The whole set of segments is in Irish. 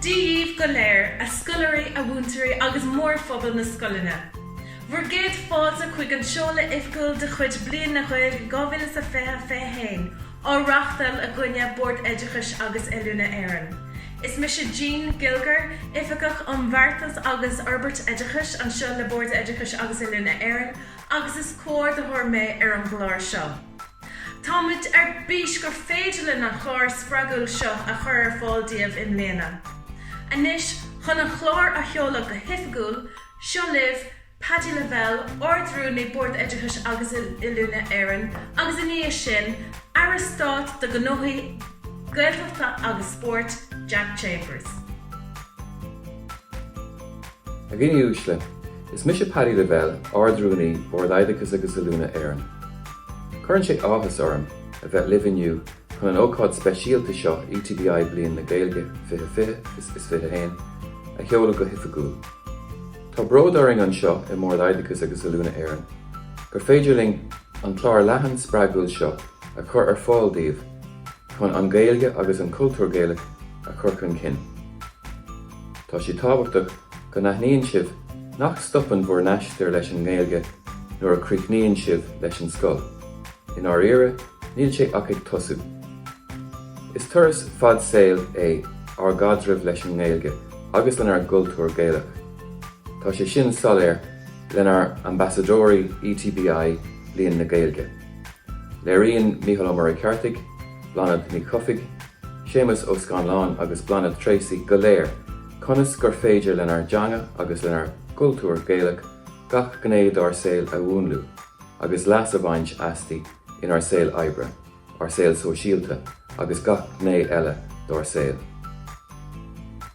Dia dhíbh go léir, a scoláirí, a mhúinteoirí agus mórphobal na scoileanna. Bhur gcéad fáilte chuig an seoladh oifgiúil de chuid Bliain na Gaeilge 2020, 21 á reachtáil againne, Bord Oideachais agus Oiliúna Éireann. Is mise Jean Gilger, Oifigeach um Bheartas agus Fhorbairt Oideachais anseo le Bord Oideachais agus Oiliúna Éireann agus is comhordaitheoir mé ar an gclár seo. Táimid ar bís gur féidir linn an chlár spreagúil seo a chur ar fáil daoibh i mbliana. Anois, chun an chlár a sheoladh go hoifigiúil, seo libh Paddy Lavelle, Ard-Rúnaí Bord Oideachais agus Oiliúna Éireann agus, ina dhiaidh sin, Aire Stáit do Ghnóthaí Gaeltachta agus Spóirt, Jack Chambers. A dhaoine uaisle, Is mise Paddy Lavelle, Ard-Rúnaí Bhord Oideachais agus Oiliúna Éireann. Cuireann sé áthas orm a bheith libh inniu chun an ócáid speisialta seo ETBI Bliain na Gaeilge 2020-2021 a sheoladh go hoifigiúil. Tá bród orainn anseo i mBord Oideachais agus Oiliúna Éireann gur féidir linn an clár leathan spreagúil seo a chur ar fáil daoibh, Chun an Ghaeilge agus an cultúr Gaelach a chur chun cinn, tá sé tábhachtach go n-aithníonn sibh nach stopann bhur n-aistear leis an nGaeilge nuair a chríochnaíonn sibh leis an scoil, i ndáiríre, níl sé ach ag tosú. Is turas fad saoil é ár gcaidreamh leis an nGaeilge agus lenár gcultúr Gaelach. Tá sé sin soiléir lenár n-ambasadóirí ETBI, Bliain na Gaeilge. Léiríonn Mícheál Ó Muircheartaigh, Bláthnaid Ní Chofaigh, Séamus Ó Scanláin agus Bláthnaid Treacy go léir conas gur féidir lenár dteanga agus lenár gcultúr Gaelach gach gné dár saol a mhúnlú agus leas a bhaint asti inár saol oibre, ár saol sóisialta agus gach gné eile dár saol.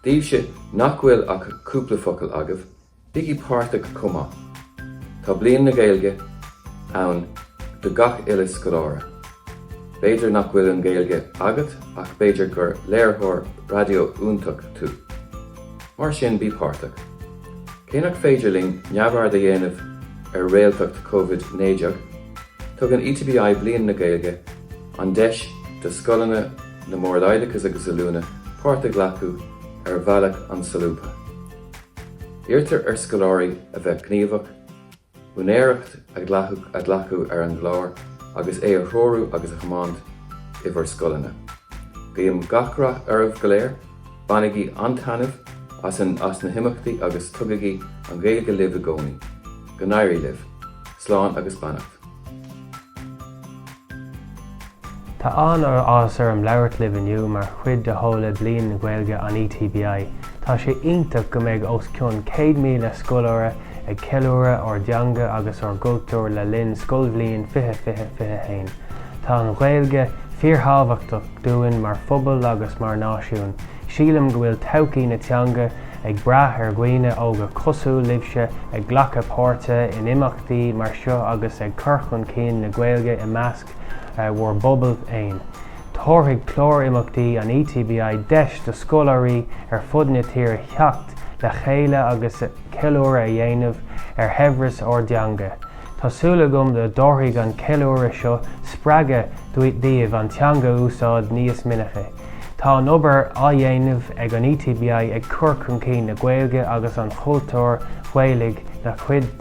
Daoibhse nach bhfuil ach cúpla focal agaibh, Bígí páirteach chomh maith. Tá Bliain na Gaeilge ann do gach uile scoláire. B'fhéidir nach bhfuil an Ghaeilge agat ach b'fhéidir gur léiritheoir raidió iontach tú. Mar sin bí páirteach. Cé nach féidir linn neamhaird a dhéanamh ar réaltacht Covid 19, tugann ETBI Bliain na Gaeilge an deis do scoileanna na mBord Oideachais agus Oiliúna páirt a ghlacadh ar bhealach an-solúbtha. Iarrtar ar scoláirí a bheith gníomhach, úinéireacht a ghlacadh ar an gclár agus é a threorú agus a thiomáint i bhur scoileanna. Guím gach rath oraibh go léir, bainigí an-taitneamh as na himeachtaí agus tugaigí an Ghaeilge libh i gcónaí. Go n-éirí libh. Slán agus beannacht. Tá an-áthas orm labhairt libh inniu mar chuid de sheoladh Bliain na Gaeilge an ETBI. Tá sé iontach go mbeidh os cionn 100,000 scoláire ag ceiliúradh ár dteanga agus ár gcultúr le linn scoilbhliain 2020-21. Tá an Ghaeilge fíorthábhachtach dúinn mar phobal agus mar náisiún. Sílim go bhfuil todhchaí na teanga ag brath ar dhaoine óga cosúil libhse ag glacadh páirte in Imeachtaí mar seo agus ag cur chun cinn na Gaeilge i measc bhur bpobal féin. Tabharfaidh clár imeachtaí an ETBI deis do scoláirí ar fud na tíre theacht le chéile agus ceiliúradh a dhéanamh ar shaibhreas ár dteanga. Tá súil agam go dtabharfaidh an ceiliúradh seo spreagadh daoibh an teanga a úsáid níos minice. Tá an obair á dhéanamh ag an ETBI ag cur chun cinn na Gaeilge agus an chultúir Ghaelaigh ina chuid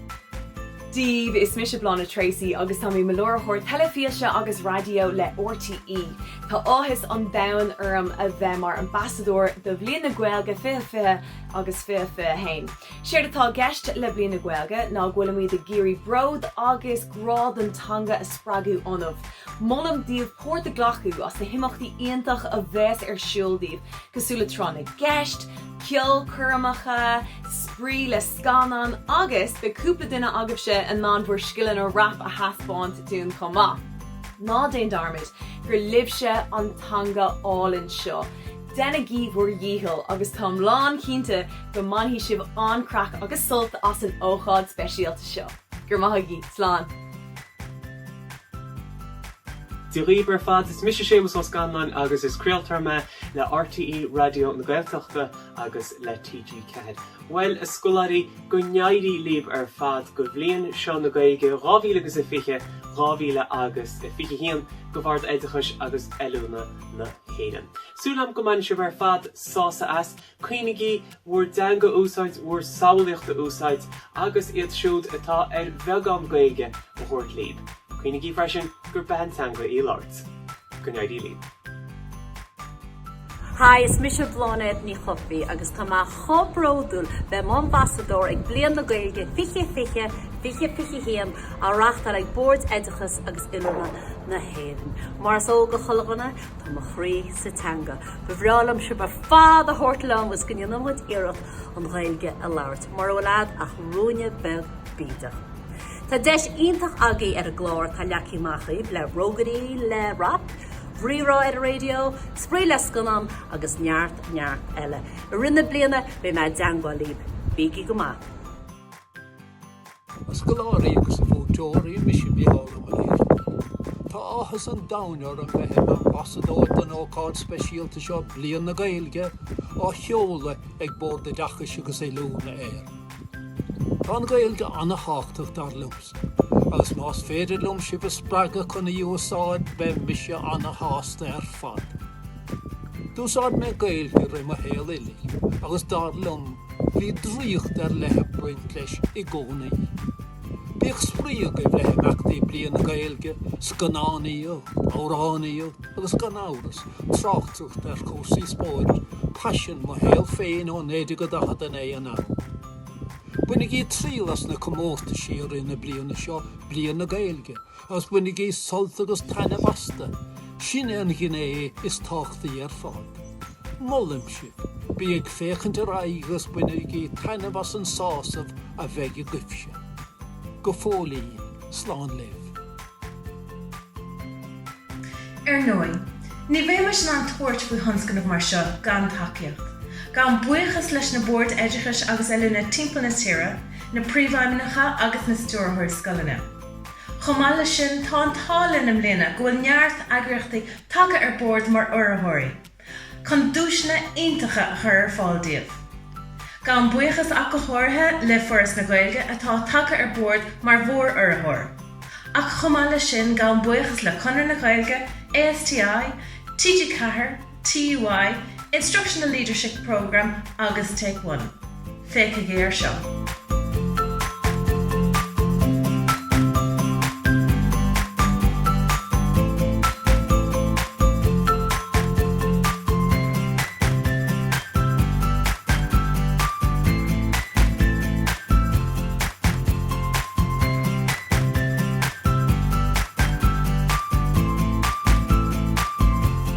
daoibh, is mise Bláthnaid Treacy agus tá mé i mo láithreoir teilifíse agus raidió le RTÉ. Tá áthas an domhain orm a bheith mar ambasadóir do Bhliain na Gaeilge 2020 agus 2021. Séard atá i gceist le Bliain na Gaeilge ná go bhfuilimid ag iarraidh bród agus grá don teanga a spreagadh ionaibh. Molaim daoibh páirt a ghlacadh sna himeachtaí iontach a bheas ar siúl daoibh, cosúil le Tráth na gCeist, ceolchoirmeacha, spraoi le scannáin agus beidh cúpla duine agaibhse in ann bhur scileanna rap a thaispeáint dúinn chomh maith. Ná déan dearmad gur libhse an teanga álainn seo. Déanaigí bhur dhícheall agus táim lán chinnte go mbainfidh sibh an-craic agus sult as an ócáid speisialta seo. Go raibh maith agaí. Slán. Dia dhaoibh ar fad, is mise Séamus Ó Scanláin agus is craoltóir mé le RTÉ Raidió na Gaeltachta agus le TG4. Bhuel, a scoláirí, go n-éirí libh ar fad do Bhliain seo na Gaeilge 2000 agus a fiche, dhá mhíle agus a fiche haon, do Bhord Oideachais agus Oiliúna na hÉireann. Súil agam go mbaineann sibh ar fad sásamh as. Cuimhnígí bhur dteanga a úsáid bhur samhlaíocht a úsáid agus iad siúd atá ar bheagán Gaeilge a thabhairt líb. Cuimhnígí freisin gur beatha teanga í a labhairt. Go n-éirí líb. Hi, is mise Bláthnaid Ní Chofaigh agus tá mé chomh bródúil bheith i m'ambasadóir ag Bliain na Gaeilge 2020, 2021 á reáchtáil ag Bord Oideachais agus Oiliúna na hÉireann. Mar is eol do chuile dhuine, Tá mo chroí sa teanga. Ba bhreá liom sibh ar fad a thabhairt liom is go ndéanann muid iarracht an Ghaeilge a labhairt. Mura bhfuil agat ach ruainne beag bídeach. Tá deis iontach agaí ar an gclár, tá leagtha amach daoibh le rógairí, le rap, rírá ar an raidió, spraoi le scannán agus neart, neart eile. I rith na bliana beidh mé i dteangmháil libh. Bígí go maith! A scoláirí agus a mhúinteoirí, mise Mícheál Ó Muircheartaigh. Tá áthas an domhain orm bheith i m'ambasadóir don ócáid speisialta seo, Bliain na Gaeilge, á sheoladh ag Bord Oideachais agus Oiliúna Éireann. Tá an Ghaeilge an-tábhachtach dar liom agus más féidir liom sibh a spreagadh chun í a úsáid beidh mise an-shásta ar fad. D'úsáid mé Gaeilge i rith mo shaol uilig agus dar liom bhí draíocht ar leith ag baint leis i gcónaí. Bíodh spraoi agaibh le himeachtaí Bliain na Gaeilge, scannánaíocht, amhránaíocht agus gan amhras, tráchtaireacht ar chúrsaí spóirt, paisean mo shaol féin ó 1949 anall. Bainigí triail as na comórtaisí i rith na bliana seo, Bliain na Gaeilge, Agus bainigí sult agus taitneamh astu, sin é an ghné is tábhachtaí ar fad. Molaim sibh, bí ag féachaint ar aghaidh agus bainigí taitneamh as an sásamh a bheidh agaibhse. Go fóillín, slán libh. Ar ndóigh, ní bheimis in ann tabhairt faoi thionscnamh mar seo gan tacaíocht. Gabhaim buíochas leis na Boird Oideachais agus Oiliúna timpeall na tíre, na Príomhfheidhmeannacha agus na Stiúrthóirí Scoileanna. Chomh maith leis sin, tá an t-ádh linn i mbliana go bhfuil neart eagraíochtaí tagtha ar bord mar urraitheoirí chun duaiseanna iontacha a chur ar fáil díbh. Gabhaim buíochas ach go háirithe le Foras na Gaeilge atá tagtha ar bord mar mhór-urraitheoir ach chomh maith leis sin gabhaim buíochas le Conradh na Gaeilge, ASTI, TG4, TUI Instructional Leadership Programme agus Take One. Féachaigí ar seo.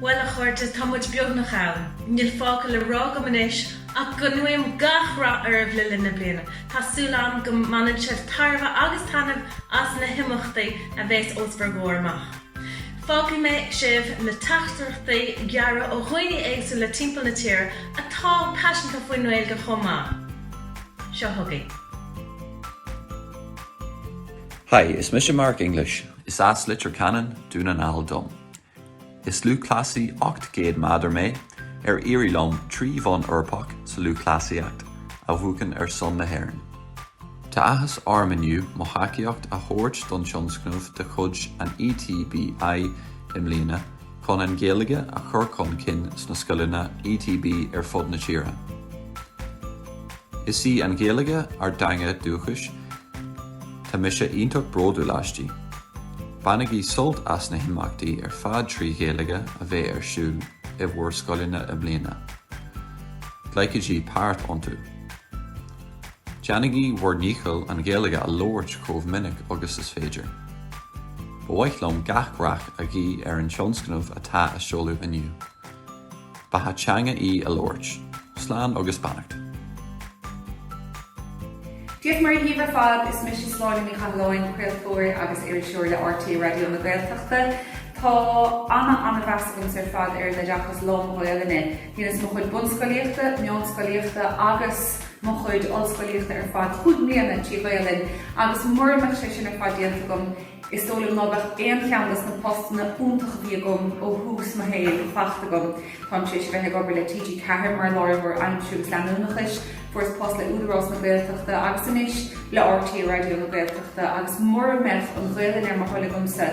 Bhuel, a chairde, tá muid beagnach ann. Níl fágtha le rá agam anois ach go nguím gach rath oraibh le linn na bliana. Tá súil agam go mbaineann sibh tairbhe agus taitneamh as na himeachtaí a bheidh os bhur gcomhair amach. Fágfaidh mé sibh le teachtaireachtaí gearra ó dhaoine éagsúla timpeall na tíre atá paiseanta faoin nGaeilge chomh maith. Seo chugaibh. Hi, is mise Mark English. Is as Leitir Ceanainn, Dún na nGall dom. Is lúthchleasaí 800 meadar mé, ar éirigh liom trí bhonn Eorpach sa lúthchleasaíocht a bhuachan ar son na hÉireann. Tá áthas orm inniu mo thacaíocht a thabhairt don tionscnamh de chuid an ETBI i mbliana chun an Ghaeilge a chur chun cinn sna scoileanna ETB ar fud na tíre. Is í an Ghaeilge ár dteanga dúchais. Tá mise iontach bródúil aisti. Bainigí sult as na himeachtaí ar fad trí Ghaeilge a bheidh ar siúl i bhur scoileanna i mbliana. Glacaigí páirt iontu. Déanaigí bhur ndícheall an Ghaeilge a labhairt chomh minic agus is féidir. Ba mhaith liom gach rath a ghuí ar an tionscnamh atá á seoladh inniu. Beatha teanga í a labhairt. Slán agus beannacht. Dia 's Muire dhaoibh ar fad. Is mise Sláine Ní Chathalláin, craoltóir agus iriseoir le RTÉ Raidió na Gaeltachta. Tá ana ana mheas agamsa ar fad ar an oideachas lán-Ghaolainne. Dheineas mo chuid bunscolaíochta, meánscolaíochta agus mo chuid ollscolaíochta ar fad cúig mbliana trí Ghaolainn agus mura mbeadh sé sin ar fad déanta agam, Is dóigh liom ná beadh aon cheann dos na postanna iontacha a bhí agam ó thús mo shaoil fachta agam. Táim tar éis a bheith ag obair le TG Ceathair mar láiritheoir aimsire agus leanúnachais, fuaireas post le Údarás na Gaeltachta agus anois le RTÉ Raidió na Gaeltachta agus mura mbeadh an Ghaolainn ar mo thoil agamsa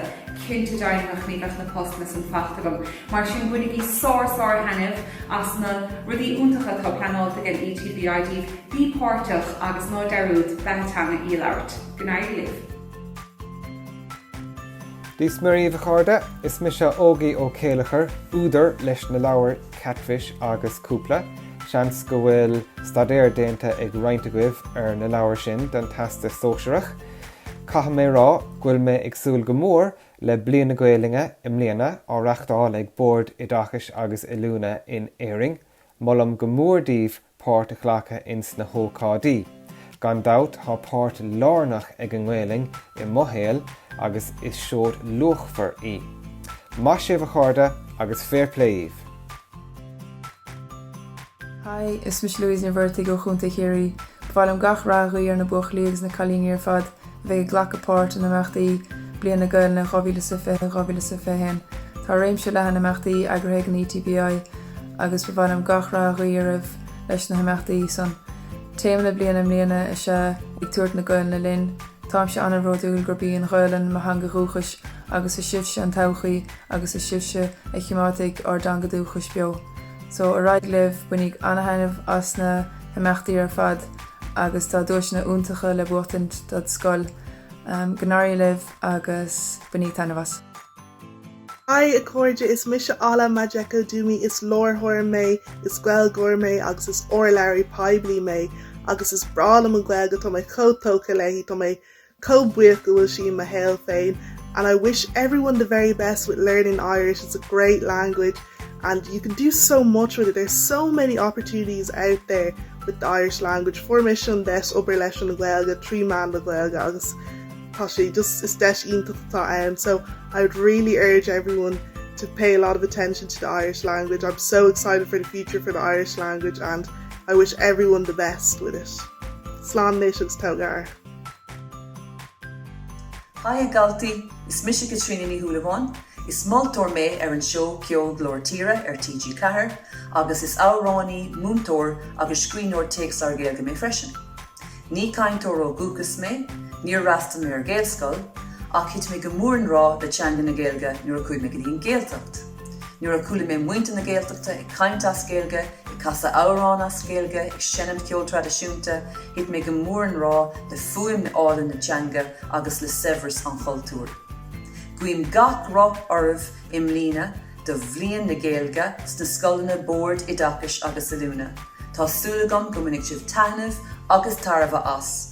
cinnte deimhneach ní bheadh na postanna san fachta agam. Mar sin bainigí sár sár thaitneamh as na rudaí iontacha atá pleanáilte ag an ETBI daoibh, bí páirteach agus ná dearúd, beatha teanga í a labhairt. Go n-éirí libh. Dia 's Muire dhaoibh a chairde, is mise Ógie Ó Céilleachair, údar leis na leabhair Katfish agus Cúpla. Seans go bhfuil staidéar déanta ag roinnt agaibh ar na leabhair sin don Teastas Sóisearach. Caithfidh mé rá go bhfuil mé ag súil go mór le Bliain na Gaoluinne i mbliana, á reachtáil ag Bord Oideachais agus Oiliúna in Éirinn. Molaim go mór daoibh páirt a ghlacadh ins na hócáidí. Gan dabht tá páirt lárnach ag an nGaelainn i mo shaol agus is seoid luachmhar í. Maith sibh a chairde agus fair play dhíbh! Hi, is mise Louise Ní Mhuircheartaigh ó Chontae Chiarraí. Ba mhaith liom gach rath a ghuí ar na buachaillí agus na cailíní ar fad a bheidh ag glacadh páirt in imeachtaí Bliain na Gaelainne 2020, 2021. Tá réimse leathan imeachtaí eagraithe ag an ETBI agus ba mhaith liom gach rath a ghuí oraibh leis na himeachtaí san. Téama na bliana i mbliana is ea 'Ag Tabhairt na Gaelainne Linn'. Táimse an-bhródúil gurb í an Ghaelainn mo theanga dhúchais agus is sibhse an todhchaí agus is sibhse a choimeádfaidh ár dteanga dúchais beo. So, ar aghaidh libh, bainigí an-thaitneamh as na himeachtaí ar fad. agus tá duaiseanna iontacha le buachtaint dod' scoil. Go n-éirí libh agus bainídh taitneamh as. Haigh a chairde, is mise Ola Majekodunmi, is láithreoir mé, is Gaeilgeoir mé agus is urlabhraí poiblí mé agus is breá liom an Ghaeilge, tá mé chomh tógtha léi, tá mé Chomh buíoch go bhfuil sí i mo shaol féin and I wish everyone the very best with learning Irish, it's a great language and you can do so much with it, there's so many opportunities out there with the Irish language. Fuair mise an deis obair leis an Ghaeilge trí mheán na Gaeilge agus tá sé just is deis iontach atá ann, so I would really urge everyone to pay a lot of attention to the Irish language. I'm so excited for the future for the Irish language and I wish everyone the best with it. Slán léis agus tógar. Haigh a Dhaltaí, is mise Caitríona Ní Shúilleabháin, is moltóir mé ar an seó ceoil Glór Tíre ar TG4 agus is amhránaí, múinteoir agus scríbhneoir téacsleabhar Gaeilge mé freisin. Ní cainteoir ó dhúchas mé, níor fhreastal mé ar Ghaelscoil, ach thit mé go mór in ngrá le teanga na Gaeilge nuair a chuaigh mé go dtí an Gaeltacht. Nuair a chuala mé muintir na Gaeltachta ag caint as Gaeilge, ag casadh amhrán as Gaeilge, ag seinm ceol traidisiúnta, thit mé go mór in ngrá le fuaim álainn na teanga agus le saibhreas an chultúir. Guím gach rath oraibh i mbliana do Bhliain na Gaeilge sna scoileanna Bord Oideachais agus Oiliúna. Tá súil agam go mbainfidh sibh taitneamh agus tairbhe as.